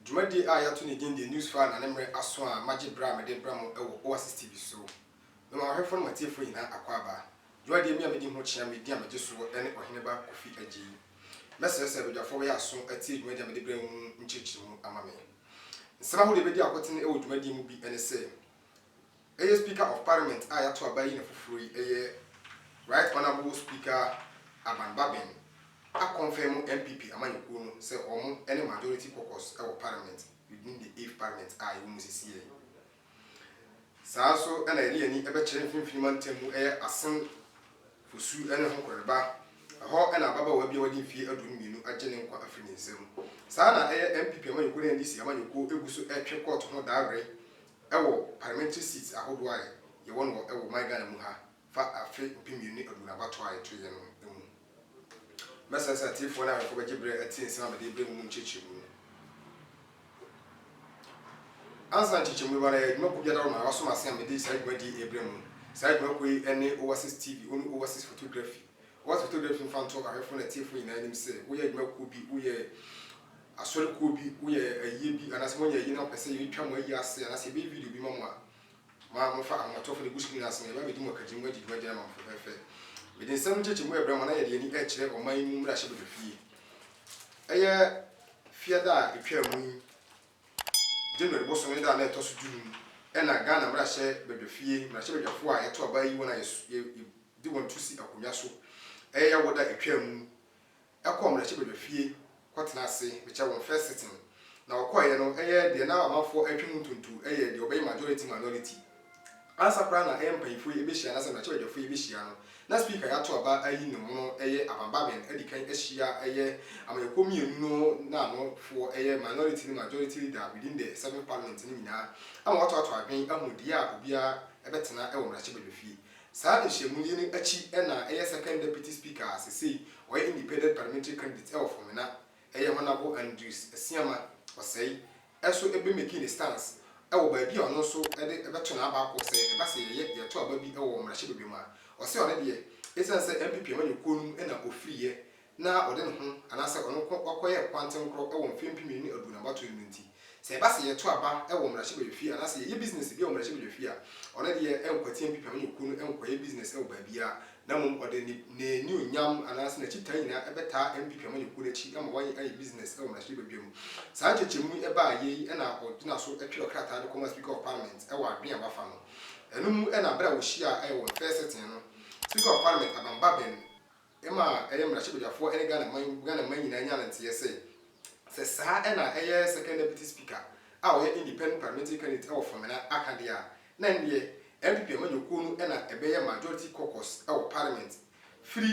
Dwumadie a yɛato ne din The News File na ne mmerɛ aso a magye berɛ a mede brɛ mo wɔ Oasis TV so. Me wɔn ahwɛfoɔ ne mo atiefoɔ nyinaa akwaaba. Dwumadie me a medi ho kyea me din a megye soɔ ne Ɔheneba Kofi Adjei. Mɛsrɛ sɛ badwafoɔ bɛyɛ aso atie dwumadie a mede brɛ mo mu nkyerɛkyerɛmu ama me. Nsɛm ahodoɔ a ɛbɛdi akotene wɔ dwumadie mu bi ne sɛ. Ɛyɛ Speaker of Parliament a yɛato aba yi na foforɔ yi yɛ Right Honourable Speaker Aban Baben akɔnfɛmo NPP amanyɔkuo no sɛ wɔn ne Majority Caucus wɔ Parliament within the eighth Parliament a yɛwɔ mu sesieɛ yi. Saa nso na yɛde yɛn ani bɛkyerɛ Mfinfini Mantam mu yɛ Asen Fosu ne Hokoreba, ɛhɔ na ababaawa bi a wadi mfeɛ aduonu mmienu agye ne nkwa afiri ne nsam. Saa na ɛyɛ NPP amanyɔkuo ne NDC amanyɔkuo gu so retwe kɔɔto ho daa were Ɛwɔ parliamentary seats ahodoɔ a yɛwɔ no wɔ my Ghana mu ha fa afe mpem mmienu ne aduonu abatoɔ a yɛtoeɛ no mu. Mɛsrɛ sɛ atiefoɔ ne awɛfoɔ bɛgye berɛ atie nsɛm a mede rebrɛ mu mu nkyerɛkyerɛmu. Ansa na nkyerɛkyerɛmu bɛba no, ɛyɛ adwuma kuo bi adaworo ma wɔaso m'ase a mede saa dwumadie yi rebrɛ mu. Saa dwuma kuo yi ne Overseas TV, onu Overseas Photography. Wɔato to dwom mfa nto ahwɛfo ne atiefo nyinaa anim sɛ woyɛ adwuma kuw bi, woyɛ asɔre kuw bi, woyɛ ayiyɛ bi, anaasɛ moanyɛ ayi na mopɛ sɛ yetwa mo ayi ase anaasɛ yɛbɛyɛ video bi ma mo a, ma momfa Ahomatɔfo no egu screen ase na yɛbɛba abedi mo akagyina mu adi dwuma gyina ma mo fɛfɛɛfɛ. Mede nsɛm nkyekyeemu rebrɛ mo na yɛde yɛn ani rekyerɛ ɔman yi mu mmarahyɛbadwa fie. Ɛyɛ Fiada a etwaa mu yi, January bosom no da a na ɛtɔ so dunum, ɛna Ghana mmarahyɛbadwafie mmarahyɛbadwafo a yɛto aba yi wɔn a de wɔn to si akonnwa so ɛyɛ yaw da etwaa mu no ɛkɔ mmarahyɛbadwa fie kɔ tena ase mekyɛ wɔn first sitting na wɔkɔeɛ no ɛyɛ deɛ na amanfoɔ ɛretwe mu ntonto ɛyɛ deɛ ɔbɛyɛ majority minority ansa koraa na ɛyɛ mpaninfoɔ yi ɛbɛhyia anasɛ mmarahyɛbadwafoɔ yi ɛbɛhyia no na speaker yato aba ayi ne mono ɛyɛ Aban Baben adikan ahyia ɛyɛ amanyɔkuo mmienu no na ano foɔ ɛyɛ minority ne majority leader within the seven parliament no nyinaa ama wɔatoato adwen ahu deɛ a obiara ɛbɛtena ɛwɔ mmarahyɛbadwa fie Saa nhyiamu yi no akyi na ɛyɛ second deputy speaker a sesei ɔyɛ independent parliamentary candidate wɔ Fomena ɛyɛ Honable Andrews Asiama Osei nso be makee ne stance wɔ baabi a ɔno nso de bɛto n'aba akɔ sɛ ɛba sɛ yɛyɛ yɛto aba bi wɔ mmarahyɛbadwam a ɔse ɔno deɛ esiane sɛ NPP amanyɔkuo no mu na ɔfiri yɛ na ɔde ne ho anaasɛ ɔno nko kɔyɛɛ kwantenkoro wɔ mfe mpem mmienu ne aduonu abatow yi mu no nti, sɛ ɛba sɛ yɛto aba wɔ mmarahyɛbadwafie anaasɛ yɛyɛ bisinɛse bi wɔ mmarahyɛbadwafie a, ɔno deɛ ɛnkwati mpipam ne kuo no nkɔyɛ bisinɛse wɔ baabiara, na mmom ɔde ne n'anuonyam anaasɛ n'akyitaa nyinaa bɛtaa mpipam ne kuo no akyi ma wɔayɛ ayɛ bisinɛse wɔ mmarahyɛbadwa mu. Saa nkyekyɛmu yi baeɛ yi na ɔgyina so twerɛ krataa de kɔmaa Speaker of Parliament wɔ adwene a wafa no no mu na berɛ a wɔhyiaa wɔ ne first sitting no, Speaker of Parliament Abang Baben, ma ɛyɛ mmarahyɛbadwafoɔ ne Ghana man Ghana man nyinaa nya no nteɛ sɛ, sɛ saa na ɛyɛ Second Deputy Speaker a ɔyɛ Independent Parliamentary Candidate wɔ Fomena aka deɛ a, na ɛndeɛ NPP amanyɔkuo no na ɛbɛyɛ Majority Caucus wɔ Parliament firi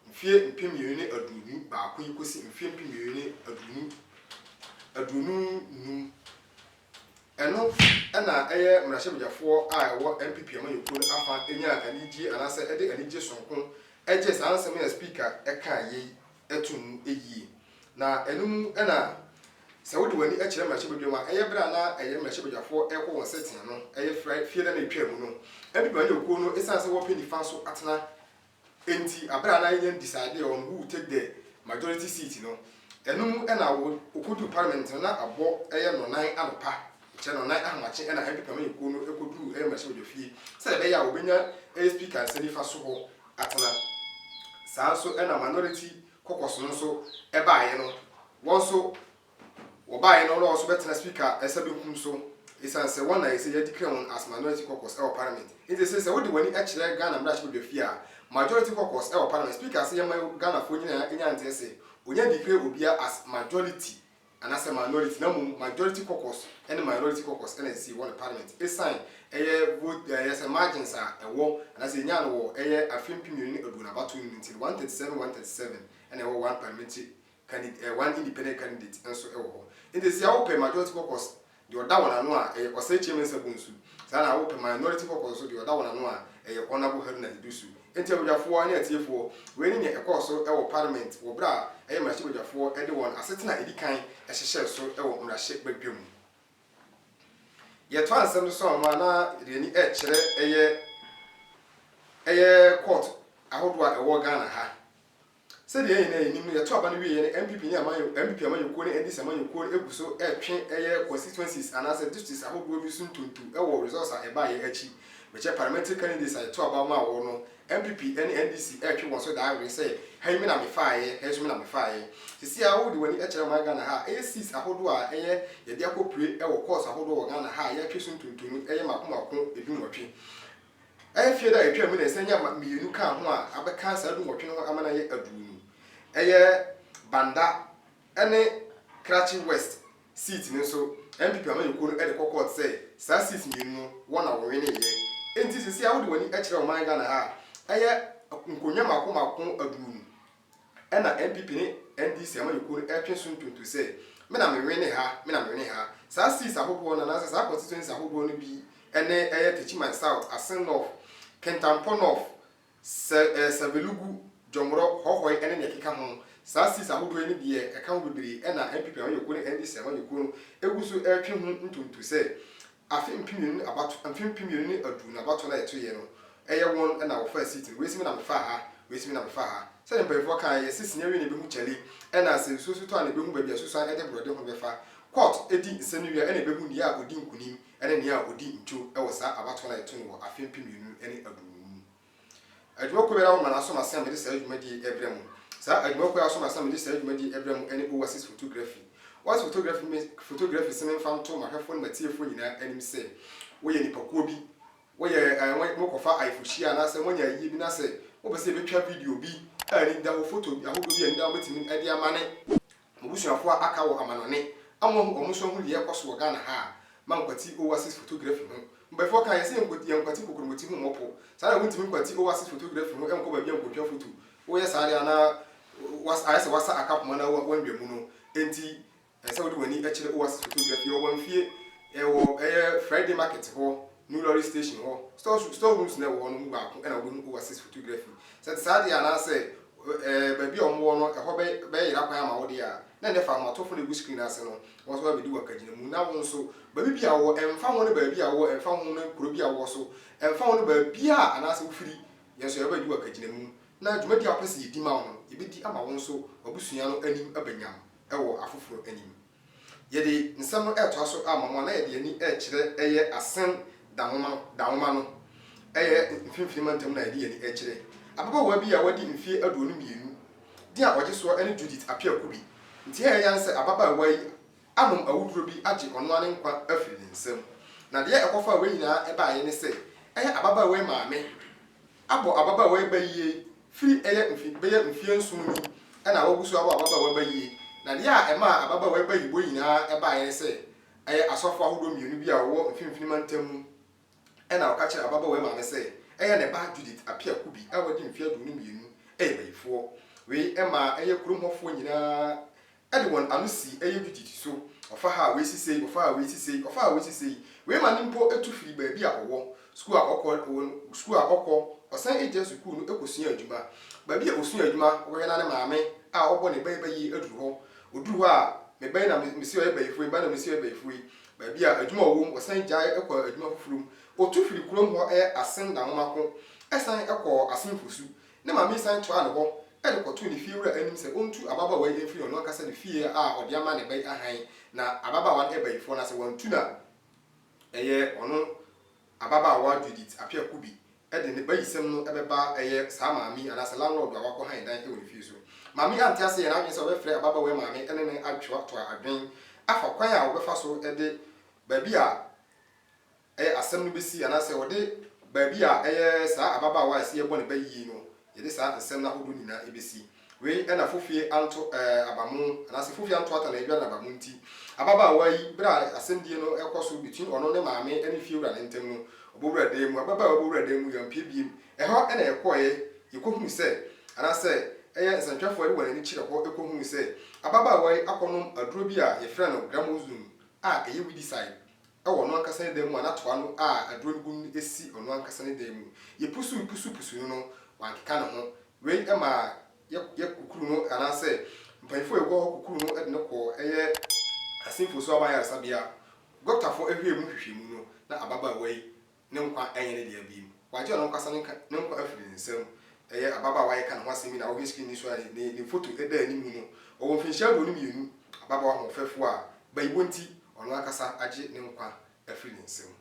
mfeɛ mpem mmienu ne aduonu baako yi kɔsi mfeɛ mpem mmienu ne aduonu aduonu nnum. Ɛno na ɛyɛ mmarahyɛbadwafoɔ a ɛwɔ NPP amanyɔkuo no afa nyaa anigyie anaasɛ ɛde anigye sononko gyee saa nsɛm yi a Speaker kaeɛ yi too mu yie. Na ɛno mu na sɛ wode w'ani kyerɛ mmarahyɛbadwam a, ɛyɛ berɛ a na ɛyɛ mmarahyɛbadwafoɔ rekɔ wɔn sɛtea no, ɛyɛ fire fie da no a ɛtwaa mu no, NPP amanyɔkuo no ɛsiane sɛ wɔpɛ nifa so atena Enti aber a na yɛnnyɛ decide on who will take the majority seat no, ɛno mu na okodur parliament no na abɔ ɛyɛ nnɔnan anɔpa, kyerɛ nnɔnan ahomakye na MP panyinkuo no kodur ɛyɛ mmarahyɛbadwafie sɛ ɛbɛyɛ a wɔbɛnya ɛyɛ speaker nsa nifa so hɔ atena. Saa nso na minority caucus no nso ɛbaeɛ no, wɔn nso. Wɔbaeɛ no na wɔn nso bɛtena Speaker ɛsa benkum so esiane sɛ wɔn na ɛsɛ yɛde kura wɔn as Minority Caucus ɛwɔ Parliament. Enti ɛsɛ sɛ wode w'ani kyerɛ Ghana mmarahyɛbadwafie a Majority Caucus ɛwɔ Parliament Speaker sɛ yɛmma Ghanafoɔ nyinaa nya nteɛ sɛ wɔnya declare obiara as Majority anaasɛ Minority na mmom Majority Caucus ne Minority Caucus na ɛsɛ sɛ yɛwɔ no Parliament esiane ɛyɛ vote ɛyɛ sɛ margins a ɛwɔ anaasɛ yɛnyaa no wɔ ɛyɛ afe mpem mmienu ne aduonu abatoɔ no mu nti no 137 137 na ɛwɔ one Parliamentary candid eh, one independent candidate nso wɔ hɔ. Enti sɛ wopɛ majority caucus deɛ ɔda wɔn ano a ɛyɛ Osei Kyei-Mensah Bonsu, saa na wopɛ minority caucus nso deɛ ɔda wɔn ano a ɛyɛ Honourable Haruna Iddrisu. Enti abadwafoɔ ne atiefoɔ, wei ne nea ɛkɔɔ so wɔ parliament wɔ berɛ a ɛyɛ mmarahyɛbadwafoɔ de wɔn asetena a ɛdi kan hyehyɛɛ so wɔ mmarahyɛ badwa mu. Yɛtoa nsɛm no so ama na yɛde yɛn ani rekyerɛ ɛyɛ ɛyɛ court ahodoɔ a ɛwɔ Ghana ha. Sɛdeɛ yɛn nyinaa nim no, yɛto aba no wieɛ no NPP ne amanyɔ, NPP amanyɔkuo ne NDC amanyɔkuo no gu so retwe ɛyɛ constituencies anaasɛ districts ahodoɔ bi so ntonto wɔ results a ɛbaeɛ akyi. Mekyɛ parliamentary candidates a yɛto aba maa wɔn no, NPP ne NDC retwe wɔn so daa were sɛ ha yi me na mefaaeɛ, ha yi nso me na mefaaeɛ. Seesei ara wode w'ani kyerɛ ɔman Ghana ha a, ɛyɛ seats ahodoɔ a ɛyɛ yɛde akɔpue wɔ courts ahodoɔ wɔ Ghana ha a yɛatwe so ntonto no yɛ mmaako mmaako dunwɔtwe. Mfe da a etwaam na nsa nnyama mmienu kaa ho a abɛka saa dunwɔtwe no ho ama no ayɛ aduonu. Ɛyɛ Banda ne Krachi West seat no nso NPP amanyɔkuo no de kɔ kɔɔt sɛ saa seats mmienu no wɔn na wɔweneeɛ. Enti seesei a wode w'ani kyerɛ ɔman Ghana ha a, ɛyɛ nkonnwa mmaako mmaako aduonu. Ɛna NPP ne NDC amanyɔkuo no ɛretwe so ntonto sɛ, me na me wene ha, me na me wene ha. Saa seats ahodoɔ no anaasɛ saa constituencies ahodoɔ no bi ne ɛyɛ Techiman South, Asin North, Kintampo North, Sɛ eh, Savelugu, Jomoro, Hohoe ne nea ɛkeka ho. Saa seats ahodoɔ yi ne deɛ ɛka ho bebree ɛna NPP amanyɔkuo ne NDC amanyɔkuo no ɛgu so ɛretwe ho ntonto sɛ, Afe mpem mmienu ne abatoɔ mfe mpem mmienu ne aduonu abatoɔ no a yɛtoeɛ no, ɛyɛ wɔn na wɔfaa seat no, wei se me na mefaa ha, wei se me na mefaa ha. Sɛdeɛ mpaninfoɔ kaeɛ no, yɛse sini awie na ɛbɛhu kyale, ɛna sɛ nsuo nso tɔ a na ɛbɛhu baabi a susuan de borɔde ho bɛfa. Court di nsɛm no wie a, ɛna ɛbɛhu nea a ɔdi nkunim ne nea a ɔdi ntwo wɔ saa abatoɔ no a yɛto no wɔ afe mpem mmienu ne aduonu mu. Adwumakuo biara wɔ mmara som ase a mede saa dwumadie yi rebrɛ mo. Saa adwumakuo a asom ase a mede saa dwumadie yi rebrɛ mo ne Oasis Photography. Oasis Photography me photography se memfa nto m'ahwɛfoɔ ne m'atiefoɔ nyinaa anim sɛ, woyɛ nnipakuo bi, woyɛ eh, morekɔfa ayefohyia anaasɛ moanya ayie bi na sɛ mopɛ sɛ yɛbɛtwa video bi a ani da hɔ, foto ahodoɔ bi a ani da hɔ a mobɛtumi de ama ne M'abusuafo a aka wɔ amanɔne a moahu wɔn nso ahu nea ɛrekɔ so wɔ Ghana ha a, ma nkwati Oasis photography ho. Mpanyinfoɔ kaa yɛn sɛ yɛnko yɛnkwati kokromoti ho mmɔ po. Saa na wontumi nkwati Oasis photography ho nkɔ baabi a nkotwa foto. Woyɛ saa deɛ a na was ayɛ sɛ wasa aka poma na wa wandwa mu no nti ɛsɛ sɛ wode w'ani kyerɛ Oasis photography. Yɛwɔ Wamfie, ɛwɔ ɛyɛ Friday market hɔ, New Lorry station hɔ. Stores store rooms no a ɛwɔ hɔ no mu baako na wobɛhu Oasis photography. Sɛ ɛte saa deɛ a anaasɛ Ɛɛ, baabi a wɔwɔ no, ɛhɔ bɛ, bɛyera kwan ama wo deɛ a, na ɛnnɛ fa ahomatorofoɔ na ɛgu screen no ase no, wɔn nso bɛbɛdi w'akagyinamu. Na wo nso, baabi biara a wowɔ, ɛmfa ho ne baabi a wowɔ, ɛmfa ho ne kuro bi a wowɔ so, ɛmfa ho ne baabiara a anaasɛ wofiri, yɛn nso yɛbɛba abɛdi w'akagyinamu, na dwumadi a wopɛ sɛ yɛdi ma wo no, yɛbɛdi ama wo nso w'abusua no anim aba nyam wɔ afoforɔ anim. Yɛde nsɛm no retoa so ama mo a, na yɛde ani rekyerɛ ɛyɛ Asen da nwoma no, da nwoma no. Ɛyɛ Mfinfini Mantam na yɛde yɛn ani rekyerɛ. Ababaawa bi a wadi mfeɛ aduonu mmienu, din a ɔgye soɔ ne Judith Appiah-Kubi, nti ɛyɛ yan sɛ ababaawa yi anom awuduro bi agye ɔno ara ne nkwa afiri ne nsam. Na deɛ ɛkɔfaa wei nyinaa baeɛ ne sɛ, ɛyɛ ababaawa yi maame, abɔ ababaawa yi bayie firi ɛyɛ mfe bɛyɛ mfeɛ nson ni na wagu so abɔ ababaawa bayie na deɛ a ɛmaa ababaawa yi bayibɔ nyinaa baeɛ ne sɛ ɛyɛ asɔfoɔ ahodoɔ mmienu bi a wɔwɔ mfimfini mantam mu na wɔka kyerɛɛ ababaawa yi maame sɛ ɛyɛ ne ba Judith Appiah Kubi a wadi mfeɛ aduonu mmienu yɛ bayifoɔ. Wei maa ɛyɛ kurom hɔfoɔ nyinaa de wɔn ano sii ɛyɛ dwudidi so, ɔfa ha a wei si sei, ɔfa a wei si sei, ɔfa a wei si sei. Wei ma no mpo tu firi baabi a ɔwɔ, sukuu a ɔkɔ, wɔ sukuu a ɔkɔ, ɔsan gyina sukuu no kɔsua adwuma. Baabi a ɔsua adwuma, ɔbɛhwɛ na ne maame a ɔbɔ ne ba yi bɛyeye aduru hɔ. Ɔduru hɔ a, me ba yi na mese ɔyɛ bayifoɔ yi, me ba na mese ɔyɛ bayifoɔ yi. Baabi a adwuma a ɔwɔ mu, ɔsan gyae kɔɔ adwuma foforɔ mu. Ɔtu firi kurom hɔ asen Dahomaako, san kɔɔ Asenfosu, Ne maame san toaa no hɔ de kɔtoo ne fiewura anim sɛ ontu ababaawa yi mfiri ɔno ankasa ne fie a ɔde ama ne ba yi hann, na ababaawa no bayifoɔ no ase wantu no a, ɛyɛ ɔno ababaawa Judith Appiah Kubi de ne bayisɛm no bɛba ɛyɛ saa maame yi anaasɛ landlord a wakɔ hann dan wɔ ne fie so. Maame yi ante ase yɛɛ n'adwene sɛ ɔbɛfrɛ ababaawa yi maame ne no atoatoa adwene afa kwan a wɔbɛfa so de baabi a Ɛyɛ asɛm no besi anaasɛ wɔde baabi a ɛyɛ saa ababaawa a ɛsɛ yɛbɔ ne ba yiye no, yɛde saa nsɛm no ahodoɔ nyinaa besi. Wei na fofie anto aba mu anaasɛ fofie anto ata na adware aba mu nti. Ababaawa yi, berɛ a asɛmdie no rekɔ so between ɔno ne maame ne fiewura no ntam no, ɔbɔwura dan mu. Ababaawa yi bɔwura dan mu yi, ɔmpue biem. Ɛhɔ na yɛkɔeɛ, yɛkɔhunu sɛ, anaasɛ ɛyɛ nsɛntwerɛfoɔ a yɛde wɔn ani kyerɛ hɔ kɔhunu sɛ, ababaawa yi akɔnom aduro bi a yɛfrɛ no Gramozone a ɛyɛ weedicide. wɔ ɔno ankasa ne dan mu a na toa no a aduro no gu mu no si ɔno ankasa ne dan mu. Yɛpusuw pusuw pusuw no no, wankeka ne ho. Wei maa yɛ yɛ kukuru no anaasɛ mpanyimfo a wɔwɔ hɔ kukuru no de no kɔɔ ɛyɛ Asimfo Nso Aban Ayaresabea. Gɔktafo hwɛɛ mu nhwehwɛmu no, na ababaawa yi Ne nkwa nyɛ ne dea bio. Wagye ɔno ankasa ne ne nkwa afiri ne nsam. Ɛyɛ ababaawa a yɛka ne ho asɛm yi na wohwɛ screen yi so a ne ne foto da anim no. Ɔwɔ mfinhyia aduonu mmienu, ababaawa hoɔfɛfoɔ a bayiwɔ nti ɔno ankasa agye ne nkwa afiri ne nsam.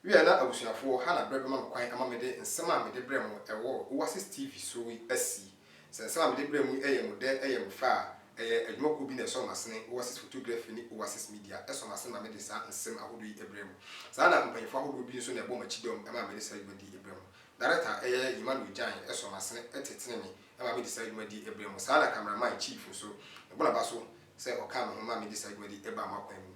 Wia na abusuafoɔ, ha na berɛ bɛma me kwan ama mede nsɛm a mede brɛ mo wɔ Oasis TV so yi asi. Sɛ nsa a mede brɛ mo yi yɛ mo dɛ yɛ mo fɛ a, ɛyɛ adwuma kuo bi na ɛsɔ m'asene, Oasis Photography ne Oasis Media sɔ m'asene ma mede saa nsɛm ahodoɔ yi brɛ mo. Saa ara na mpanyinfoɔ ahodoɔ bi nso na ɛbɔ m'akyidɔm ma mede saa dwuma di yi brɛ mo. Darekta a ɛyɛ Emmanuel Gyan sɔ m'asene tetene me ma mede saa dwuma di yi brɛ mo. Saa ara na Camera Man Chief nso, mebɔ n'aba so sɛ ɔkaa me ho ma mede saa dwuma di yi baa mo akwan mu.